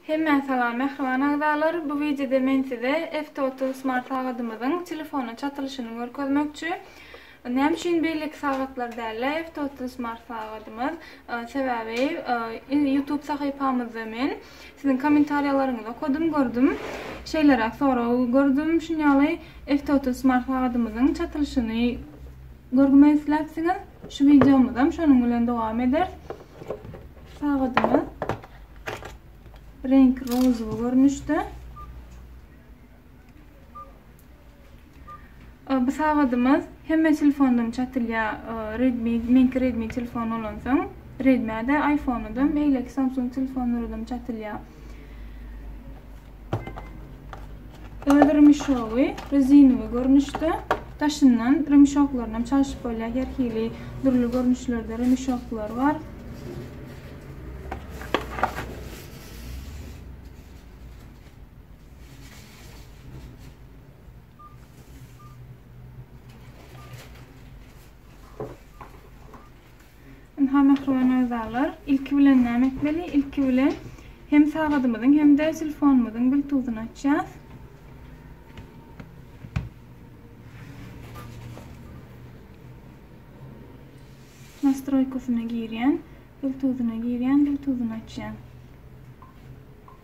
Hemmä salam mähriban agzalar, bu wideoda men size F-Total smart sagadymyzyň telefona çatylyşyny görkezmekçi. Näme üçin beýleki sagatlar däl-de F-Total smart sagadymyz? Sebäbi YouTube sahypamyzda men siziň kommentariýalaryňyzy okadym, gördüm. Şeýleräk sorag gördüm, şunýaly F-Total smart sagadymyzyň çatylyşyny görgmek isläpsiňiz. Şu wideomyzam şonuň bilen dowam eder. Sagadyma reňki rozowy görnüşde. Bu sagadymyz hemme telefondan çatylýar. Redmi, menki Redmi telefon bolansoň, Redmi-de, iPhone-da, beýleki Samsung telefonlardan çatylýar. Ol rymşowy rezinowy görnüşde, daşyndan rymşoklaryny hem çalşyp bolýar. Her hili dürli görnüşlerde rymşoklar bar. Ynha, mähriban agzalar, ilki bilen näme etmeli? Ilki bilen hem sagadymyzyň, hem-de telefonymyzyň biltuzyny açýas. Nastroýkasyna girýän, biltuzyna girýän, biltuzyny açýan.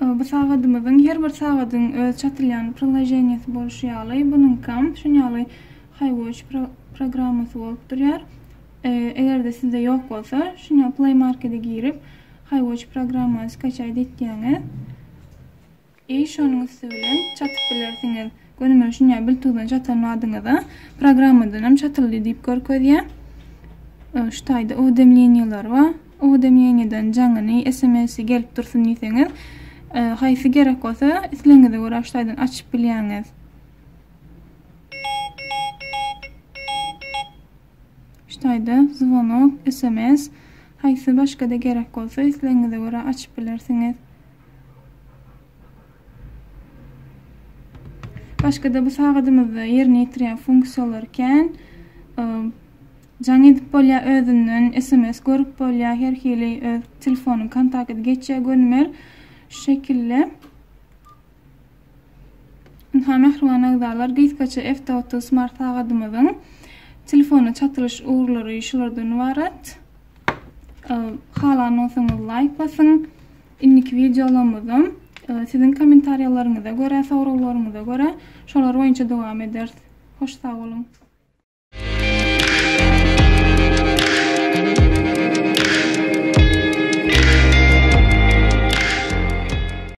Ee, bu sagadymyzyň her bir sagadyň öz çatylýan priloženiýasy bolşy ýaly, bunuňkam şun ýaly Highwatch pro programmasy bolup durýar. Ee, eger-de sizde ýok bolsa, şun ýaly Play Markete girip, Highwatch programmany skaçaýt etýäňiz. Eý şonuň üsti bilen çatyp bilersiňiz. Göni men şunýa biltuzdan çatan badyňyza programmadanam çatyldy diýip görkezýä. Şu taýda uwdemleniýalar bar. Uwdemleniýadan jaňyny, SMS-i gelip dursun diýseňiz, haýsy gerek bolsa islegiňize görä şu taýdan açyp bilýäňiz. Şu taýda zvonok, SMS, haýsy başga-da gerek bolsa islegiňize görä açyp bilersiňiz. Başga-da bu sagadymyzda ýerine ýetirýän funksiýalary kän. Jaň edip bolýar özünden, SMS görüp bolýar, her hili öz telefonyň kontakty geçýär gönümel. Şu şekilde. Ynha mähriban agzalar, gysgaça F-Total smart sagadymyzyň telefona çatylyş ugurlary şulardan ybarat. Halanmasaňyz laýk basyň. Indiki wideolarymyzam siziň kommentariýalaryňyza görä, soraglaryňyza görä şolar boýunça dowam ederis. Hoş sag boluň.